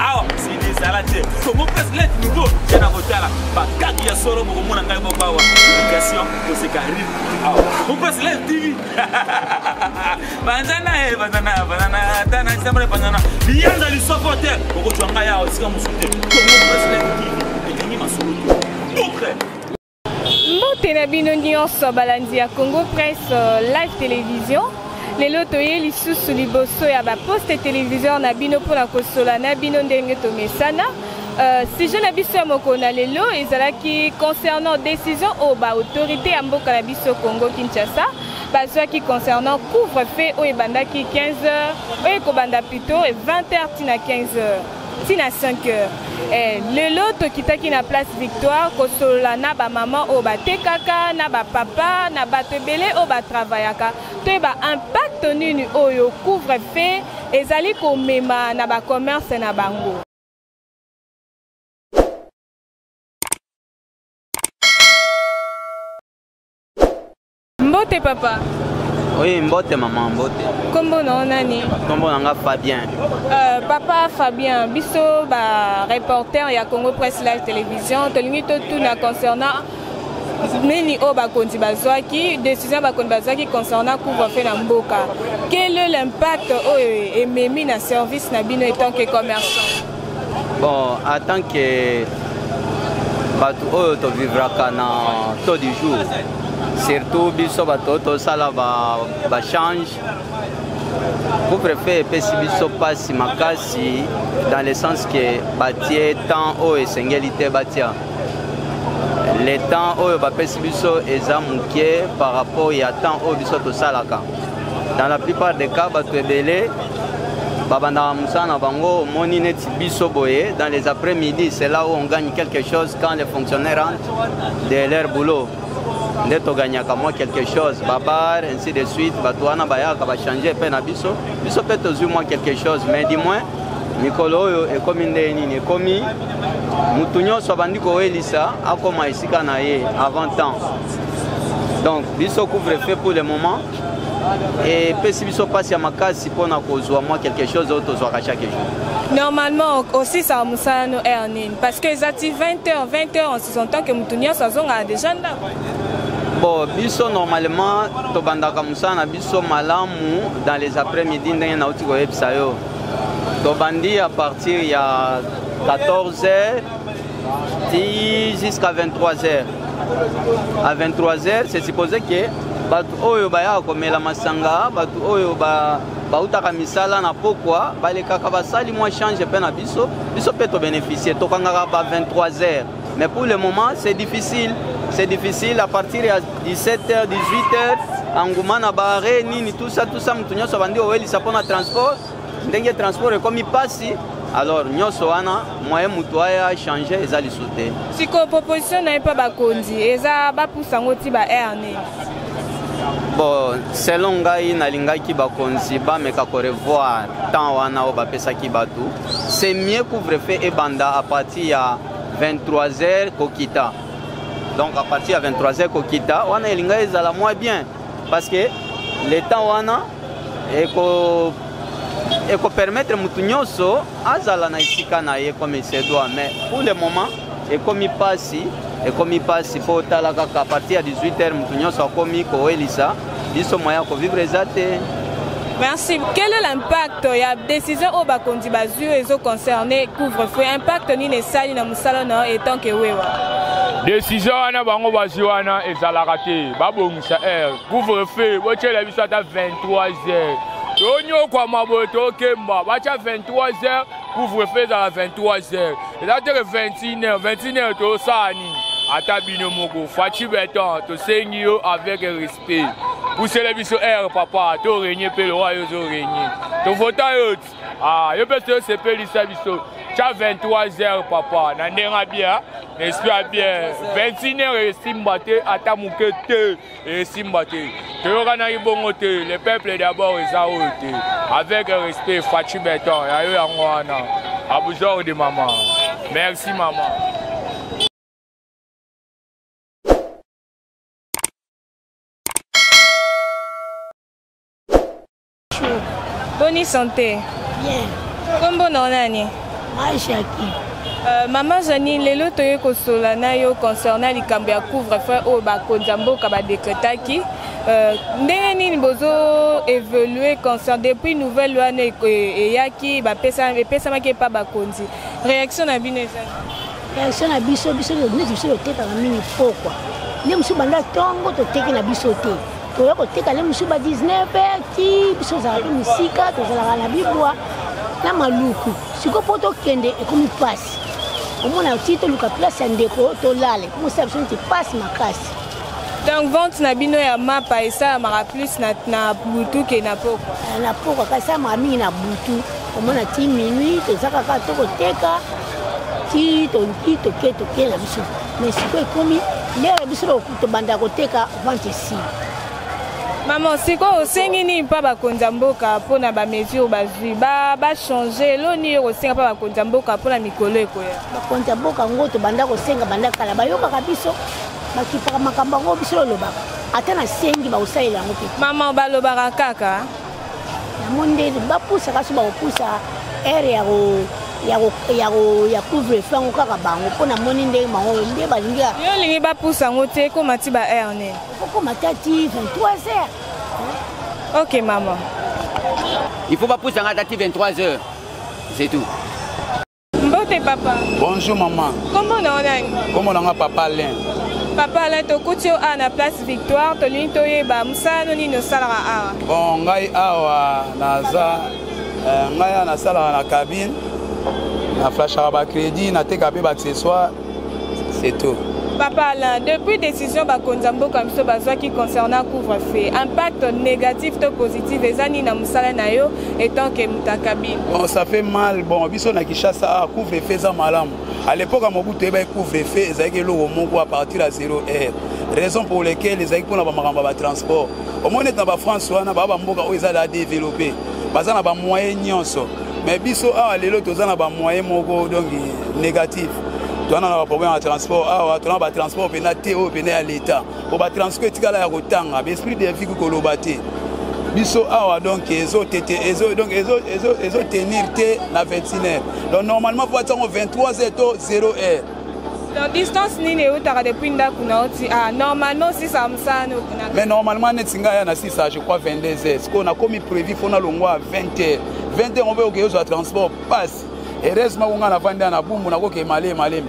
awa mosili ezala te kongo presse lete nouveau te na kotala bakaki ya solo bokomona ngai moko awa publication koseka rire awa kongo presse lete tv banzana e banzana banana ata na disembale banzana liyanza lisoko te okotwa ngai awa esika mosusu te kongo presse lete tv elingi masolo te bukre mbote na bino nyonso balandi ya congo presse euh, live télévision lelo toye lisusu liboso ya baposte téléviseur na bino mpo na kosola na bino ndenge tomesana Euh, sujet na biso ya mokolo na lelo ezalaki concernant décision oyo baautorité ya mboka na biso congo kinshasa bazwaki concernant couvre feu oyo ebandaki 15 heures oyo ekobanda plutôt 20 heures ntina 15 heures ti na 5 heures eh, lelo tokitaki na place victoire kosolola na bamama oyo batekaka na bapapa na bato ebele oyo batravayaka toyeba impact nini oyo couvre fe ezali komema na bacommerce na bango Mbote papa. Oui, mbote maman, mbote. Kombo na nani? Kombo na nga Fabien. Euh, papa Fabien, biso ba reporter ya Congo Presse Live Television, tolingi totuna concernant nini oyo bakonzi bazwaki décision bakonzi bazwaki concernant couvre-feu na mboka quel est l'impact oyo ememi na service na bino etant que commerçant Bon, en tant que bato oyo tovivraka na taux du jour surtout biso bato oyo tosala bachange couvre-feu epesi biso mpasi makasi dans le sens que batie temps oyo esengeli te batia le temps oyo bapesi biso eza moke par rapport ya temps oyo biso tosalaka dans la plupart des cas bato ebele babandaka mosala na bango omoni neti biso boye dans les après midi c'est là où on gagne quelque chose quand les fonctionnaires rentrent de leur boulot nde togagnaka mwa quelque chose babar ainsi de suite bato wana bayaka bachange mpe na biso biso mpe tozwi mwa quelque chose mais du moins mikolo oyo ekomi ndenge nini ekomi motu nyonso abandi kowelisa akoma esika na ye avant temps donc biso couvre feu pour le moment epesi biso mpasi ya makasi mpo na kozwa mwa quelque chose oyo tozwaka chaque jour normalement osisaka mosala no heure nini parce que eza ti 20 heures 20 heures en sous-entend que moto nyonso azongaka déjà ndako bon biso normalement tobandaka mosala na biso malamu dans les après midi ndenge nauti koyebisa yo tobandi à partir ya 14 heures ti jusqu'à 23 heures à 23 heures c'est supposé que bato oyo bayaka komela masanga bato oyo ba bautaka misala na pokwa balekaka basali mwa change mpe na biso biso mpe tobénéficie tokangaka ba 23 heures mais pour le moment c'est difficile c'est difficile à partir ya 17 heures 18 heures enguma na baare nini tout ça tout ça moto nyonso abandi owelisa mpo na transport ndenge transport ekomi mpasi alors nyonso wana moyen moto aya change eza lisusu te sikoyo proposition na ye mpe bakonzi eza bapusa yango ti ba air nini bon selon ngai nalingaki bakonzi bameka korevoir temps wana oyo bapesaki bato c'est mieux couvre-feu ebanda à partir ya 23 heures kokita donc à partir ya 23 heures kokita wana elinga ezala mwa bien parce que le temps wana eko ekopermettre motu nyonso azala na esika na ye comme se doit mais pour le moment ekomi mpasi ekomi mpasi mpo otala kaka partir ya 18 heures motu nyonso akomi kowelisa biso moya ya kovivre eza te Merci. Quel est l'impact Il y a décision au Bakondi Bazu et au concerné couvre-feu. Impact ni les salles, sala na yo etant que wewa desizio wana bango bazwi wana ezalaka te babongisa heure couvre feu botyela biso ata 23 heures tonyokwama boye tokemba batya 23 heures couvre feu ezala 23 heures eza teke 21 heures 21 heures tosala nini ata bino moko faci beton tosengi yo avec respect pusela biso heure papa torenye mpe lowa yo ozorenye tovota yo Ah, yo mpe soki osepelisa biso tya 23 heures papa na ndenge ya bien na esprit ya bien 21 heures esimba te ata moke te esimba te toyokanaki bongo te le peuple d'abord eza oyo te avec respect faci beton ya yo yango wana abusor de mama merci mama Boni santé. Bien. Kombo na nani? Mashaki. Euh, mama jani lelo toye kosola na yo concernant likambo ya couvre-feu oyo bakonzi ya mboka badekretaki Euh, ndenge nini bozo évoluer concert depuis nouvelle wana eyaki epesamaki epa bakonzi réaction na bino ezali réaction na biso biso neti biso totekaka mingi pokwa nde mosusu banda ntongo toteki na biso te toya koteka le mosusu ba 19 heure ti biso ozalaka mpe mosika tozalaka na bibwa na maluku sikoyo mpo tokende ekomi mpasi omona ti toluka place ya ndeko tolala ekomosala biso neti mpasi makasi donc vente na bino ya mapa esalamaka plus na, na butu ke na pokwa eh, na pokwa kasi esalamaka mingi na butu omona ti minuit toza kaka tokoteka ti toki toke toke na biso mais sikoyo ekomi lere biso tobanda koteka vente esili mama sikoyo osengi nini mpa bakonzi ya mboka mpo na bamesure bazwi bachange elo nini yo kosenga mpa bakonzi ya mboka mpo na mikolo ekoya bakonzi ya mboka yango tobanda kosenga banda kala bayokaka biso bakipaka makambo yango biso lolobaka ata nasengi bakosalela yango mpe mama balobaka kaka namoni nde bapusaka so bakopusa ere ya ya couvre feu yango kaka bango mpo namoni ndenge bango nde balingi yo olingi bapusa yango te ekoma ti ba heure nini okokoma ta ti 23 heures ok mama il faut bapusa nga ta ti 23 heures c'est tout mbote papa bonjour maman kombo na onani kombo na nga papa alain papa alain tokuti yo awa na place victoire tolingi toyeba mosala no nini osalaka awa bon ngai awa naza eh, ngai awa nasalaka na cabine naflashaka bacrédit nateka mpe baaccessoire c'est tout papa alain depuis décision bakonzi ya mboka biso bazwaki concernant couvre feu impact négatif to positif eza nini na mosala na yo etant ke moto akabine bon ça fait mal bon biso na kinshasa ah, couvre feu eza malamu à l'époque ya mobutu eyebaki couvre feu ezalaki eloko moko à partir ya 0 heure raison pour lequel ezalaki mpona bamakambo ya batransport omoni ete na bafrance wana baa bamboka oyo ezali adeveloppe baza na bamoyen nyonso mais biso awa lelo toza na bamoyen moko donki négatif toana na baproblème ya transport awa ah, tona batransport mpena te oyo mpena ya leta po batransport etikala ya kotanga baesprit de vie kukoloba te biso awa ah, donc ezotenir te na 21 heure donc normalement po batiango 23 heure to 0 heure donc distance nini eutaka depuis ndako na oti ah, normalement sisa mosano mais normalement neti ngai ya na sisa je crois 22 heures sikoyo nakomi prévu mpo nalongwa 20 heures 20 heures obe okeozwa transport passe heureusement ko ngai navandi na bumbu nakoke maleme maleme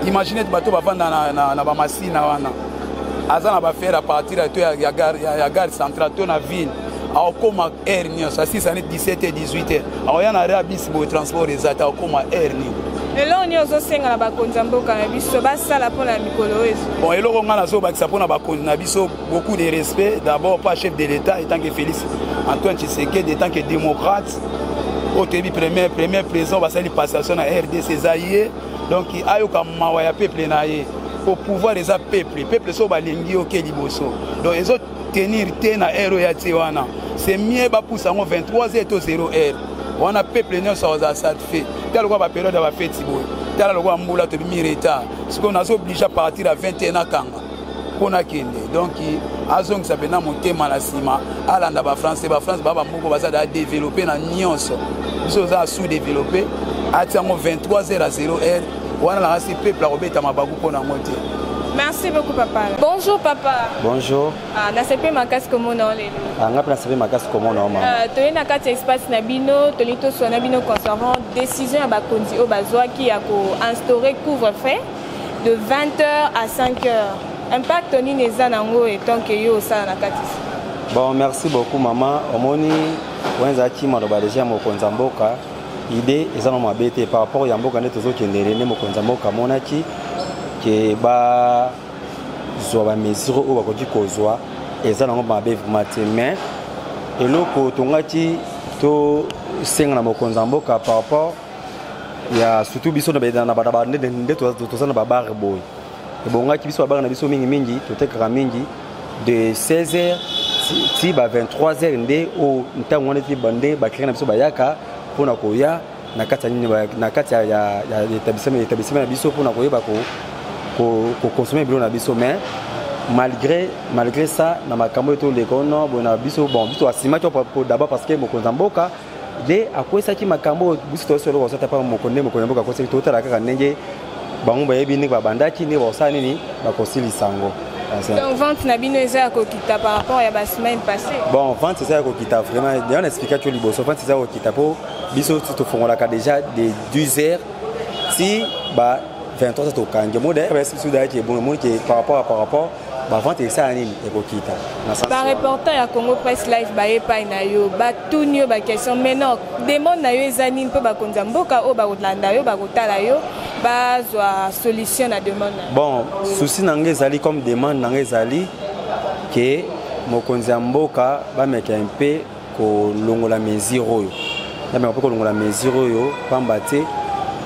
imagine ete bato bavanda na, na, na bamasina wana aza na bafere ya partir to ya, ya, gare, ya, ya gare central to na ville akokoma aire nyonso asisa ne 17 e 18 e akoya na rea bisi boye transport eza te akokoma aire nini eloko nini ozosenga na bakonzi ya mboka na biso basala mpo na mikolo oyo bon eloko ngai nazobakisa mpo na bakonzi na biso beaucoup de respect d'abord pas chef de l'état étant que félix antoine tshisekedi étant que démocrate oyo toyebi premier premier président basali passation na rdc eza ye donc ayoka mawa ya peuple na ye po pouvoir eza peuple peuple so balingi yo ke liboso donc ezo tenir te na heure oyo ya tie wana c'est mieux bapusa yango 23 heure to 0 heure wana peuple nyonso aza satisfait tala lokola baperiode ya bafeti boye tala lokola mbula tobimi retard sikoyo nazo oblige a partir ya 21 akanga mpo nakende donk azongisa mpenza motema na nsima alanda bafrançais bafrance baa bamoko baza daa développe na nyonso biso oza sous développe ati yango 23 heure a 0 heure wana nakasi peuple akobeta mabaku mpo na yango te Merci beaucoup papa. Bonjour papa. Bonjour. Ah, na sepe makasi komona o lelo. Ah, nga pe na sepe makasi komona o mama. Ah, toye na kati ya espace na bino, toli tosua na bino concernant décision ya bakonzi oyo bazwaki ya ko instaurer couvre-feu de 20 heures à 5 heures impact nini eza nango etant que yo osala na kati bon merci beaucoup mama omoni oyo ezalaki maloba deja ya mokonzi ya mboka ide eza na mabe te par rapport ya mboka nde tozokendele nde mokonzi ya mboka amonaki ke bazwa bamesure oyo bakoki kozwa eza nango mabe vraimen te mais eloko tongaki tosenga na mokonzi ya mboka par rapport ya surtout biso na bana bana nde nde toza na ba bar boy ebongaki biso ba bar na biso mingi mingi totekaka mingi de 16h ti ba 23h nde o ntango wana ti bande ba client na biso bayaka pona koya na kati ya nini na kati ya ya établissement établissement na biso pona koyeba ko ko consommer bilo na biso mais malgré malgré ça na makambo eto leko no bona biso bon biso asimaki d'abord parce que mokonza mboka nde akwesaki makambo oyo biso toyoso eloko azwa tapa moko nde mokonzi ya mboka akwesaki totala kaka ndenge bango bayebi ndenge babandaki ndenge bakosala nini bakosilisa yango Donc vente na bino eza ya kokita par rapport ya ba semaine passée. Bon vente eza ya kokita vraiment. D'ailleurs na expliquer tu liboso vente eza kokita po biso to fongolaka déjà de 12h ti ba 23h tokangi. Mo d'ailleurs ba sisi d'ailleurs qui est bon, mo qui par rapport à par rapport bavante esala nini ekokita bareporter ya congo press live baye epai na yo batuni yo baquestion mais non demande na yo eza nini mpo bakonzi ya mboka oyo bakolanda yo bakotala yo bazwa solution na demande na bon souci na ngai ezali comme demande na ngai ezali ke mokonzi ya mboka bameka mpe kolongola mesure oyo nameka mpe kolongola mesure oyo pamba te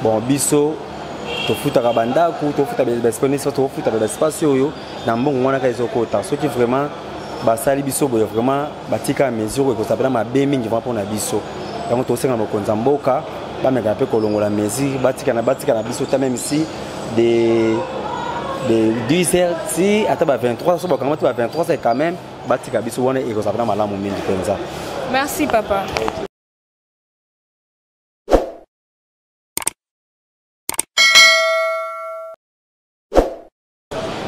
bon biso tofutaka bandako tofuta baespace tofuta baespace oyo na mbongo wana kaka ezokota soki vraiment basali biso boye vraiment batika mesure ekozala mpena mabe mingi vraimen mpona biso yango tosenga mokonzi ya mboka bameka mpe kolongola mesure batikana batikana biso ta meme si de 10 heures ti ata ba 23 so bakanga ti ba 23 heures quand même batika biso wana ekozala na malamu mingi mpenza merci papa okay.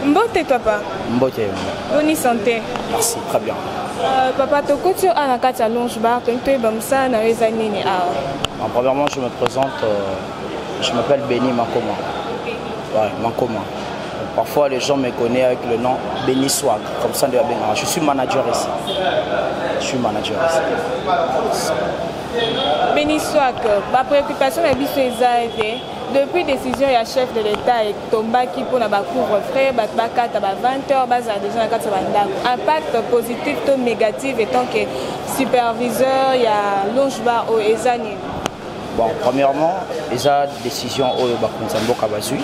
Mbote papa. Mbote. Bonne santé. Merci, très bien. Euh, papa tokoti oyo ana kati ya longe bar toyini toyeba mosala na yo eza nini awa ah. premièrement je me présente euh, je m'appelle béni makoma ouais, makoma Parfois les gens me connaissent avec le nom Benny Swag, comme ça de Benga. Je suis manager ici. Je suis manager ici. Benny Swag, ma préoccupation est bien depuis décision ya chef de l'état etombaki mpona bacouvre frais bato bakata ba 20 heures bazala déjà na kati ya bandako impact positif to négatif etant que superviseur ya longe bar oyo eza nini Bon, premièrement, eza décision oyo bakonzi ya mboka bazwi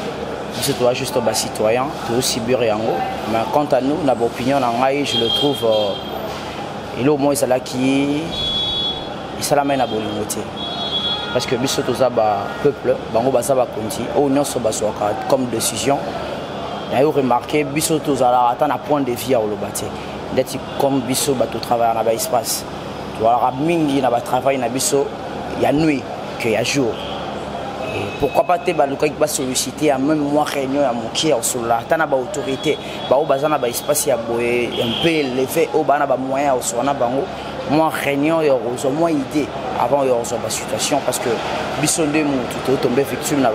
biso toza juste bacitoyen tozosibir yango mais quant à nous na baopinion na ngai je le trouve euh, eloko moko ezalaki esalamai na bolingo te parce que biso toza bapeuple bango baza bakonzi oyo nyonso bazwaka comme décision nayo remarke biso tozalaka ata na point de vie ya koloba te ndeti comme biso bato travaillaka na baespace tozalaka mingi na batravail na biso ya nuit que ya jour pourquoi pas te balukaki basollicite ya meme mwa réunion ya mokie ya kosolola ata na baautorité baoyo baza na baespace ya boye un peu eleve oyo baa na bamoyen ya kosolola na bango mwa réunion ya kozwa mwa idée avant ya kozwa basituation parce que biso nde motu totombe victime na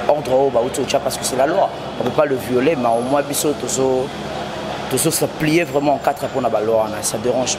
baordre oyo bauti otya parce que c'est la loi on peut pas le violer mais au moins biso tozo tozo s'applier vraiment en quatre mpo na baloi wana ça dérange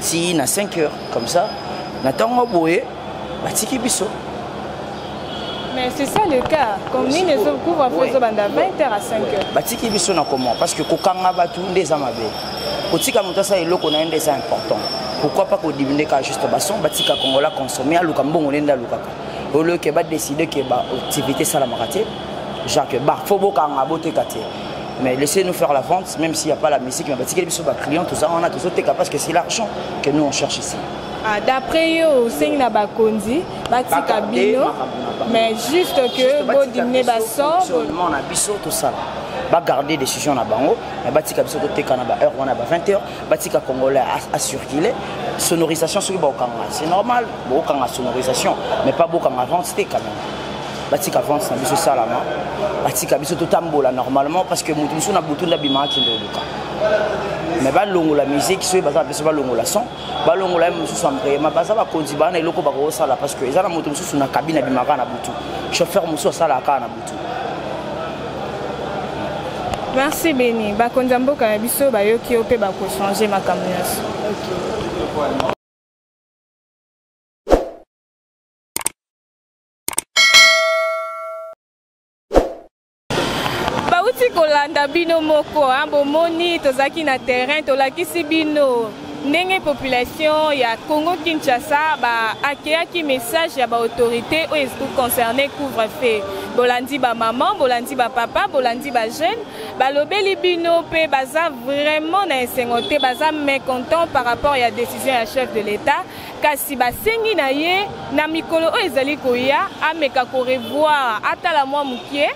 ti na 5 heures comme ça na ntango boye batiki biso Mais c'est ça le cas. Comme nous, les autres couvrent après, ils ont 20h à 5h. Batiki biso na comment Parce que kokanga batu nde eza mabe. Kotika moto asa eloko na nde eza important. Pourquoi pas kodimine ka juste bason batika kongola consommer aluka mbongo nde alukaka. Au lieu que ba décider que ba activité salamaka te, genre que ba faut bokanga boteka te. mais laissez nous faire la vente même s'il n'y a pas la musique mais batikeli biso baclient toza wana tozoteka parce que c'est l'argent que nous on cherche ici Ah, d'après yo osengi na bakonzi batika bino mais juste que bodimine basomo na biso tosala bagarde décision na bango mais batika biso toteka na baheure wana ba 20 heures batika congolais acircule sonorisation soki baokanga c'est normal bokanga sonorisation mais pas bokanga vente te quand même batika avance na biso esalama batika biso totambola normalement parce que moto mosusu na butu nde abimaka kende oluka mais balongola musique soki baza na biso balongola son balongola ye mosusu ambreyema baza bakonzi bana eloko bakokosala parce que eza na moto mosusu na kabine abimaka na butu chauffeur mosusu asalaka kaka na butu merci beni bakonzi ya mboka na biso bayoki yo mpe bakochange makambo nyonso bauti kolanda bino moko hein, bomoni tozalaki na terrain tolakisi bino ndenge population ya congo kinshasa baakeyaki message ya baautorité oyo concerne couvre feu bolandi bamama bolandi bapapa bolandi bajeune balobeli bino mpe baza vraiment na esengo te baza mécontent par rapport ya décision ya chef de l'état kasi basengi na ye na mikolo oyo ezali koya ameka korevoir atala mwa moke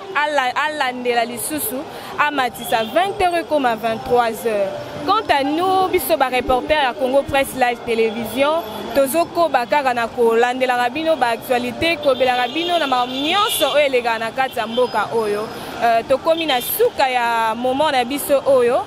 alandela lisusu amatisa 20 heures ekoma 23 heures quant à nous biso bareporter ya congo presse live télévision tozokoba kaka na kolandelaka bino baaktualité kobelaka bino na makambo nyonso oyo elekaka na kati ya mboka oyo euh, tokomi na suka ya moment na biso oyo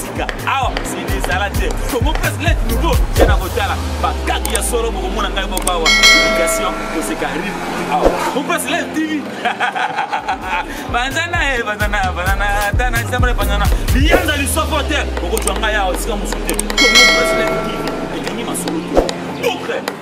tika awa sidi ezala te congo presse let nouveau te na kotala bakaki ya solo bokomona ngai moko awa publication koseka rire awa congo presse let tv banzana e eh, banzana banzana ata na isambre banzana liyanza lisoko te okotwa ngai awa esika mosusu te congo presse let tv elingi masolo te boucle